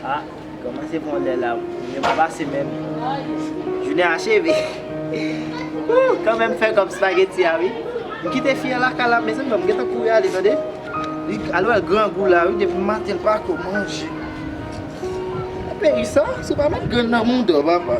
Ha Koman se bon lè la Jounen pa pase menm Jounen acheve Ooh Koman m fè kòb spageti a wi M kite fi an lakay la mezanmi bon m gentan kouri ale tande Li al wè l grangou la wi depi maten l pako manje Nan peyi sa se pa menm grenn nan mouda papa.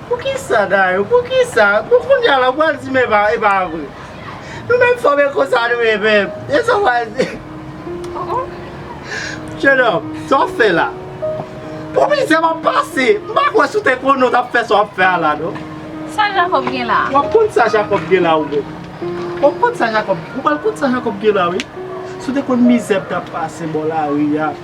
Poukisa Dayou poukisa bon kounya la ou pral di men epa vre nou menm fanm e konsa nou ye menm esa ou pral di Jenòm sa wap fè la pou mizè map pase m pa kwè si w te konnen w tap fè sa wap fè a la non Sa Jakòb gen la a? Wap konn sa Jakòb gen la ou menm wap konn sa Jakòb ou pral konn sa Jakòb gen la wi si w te konn mizè m tap pase bò lari a.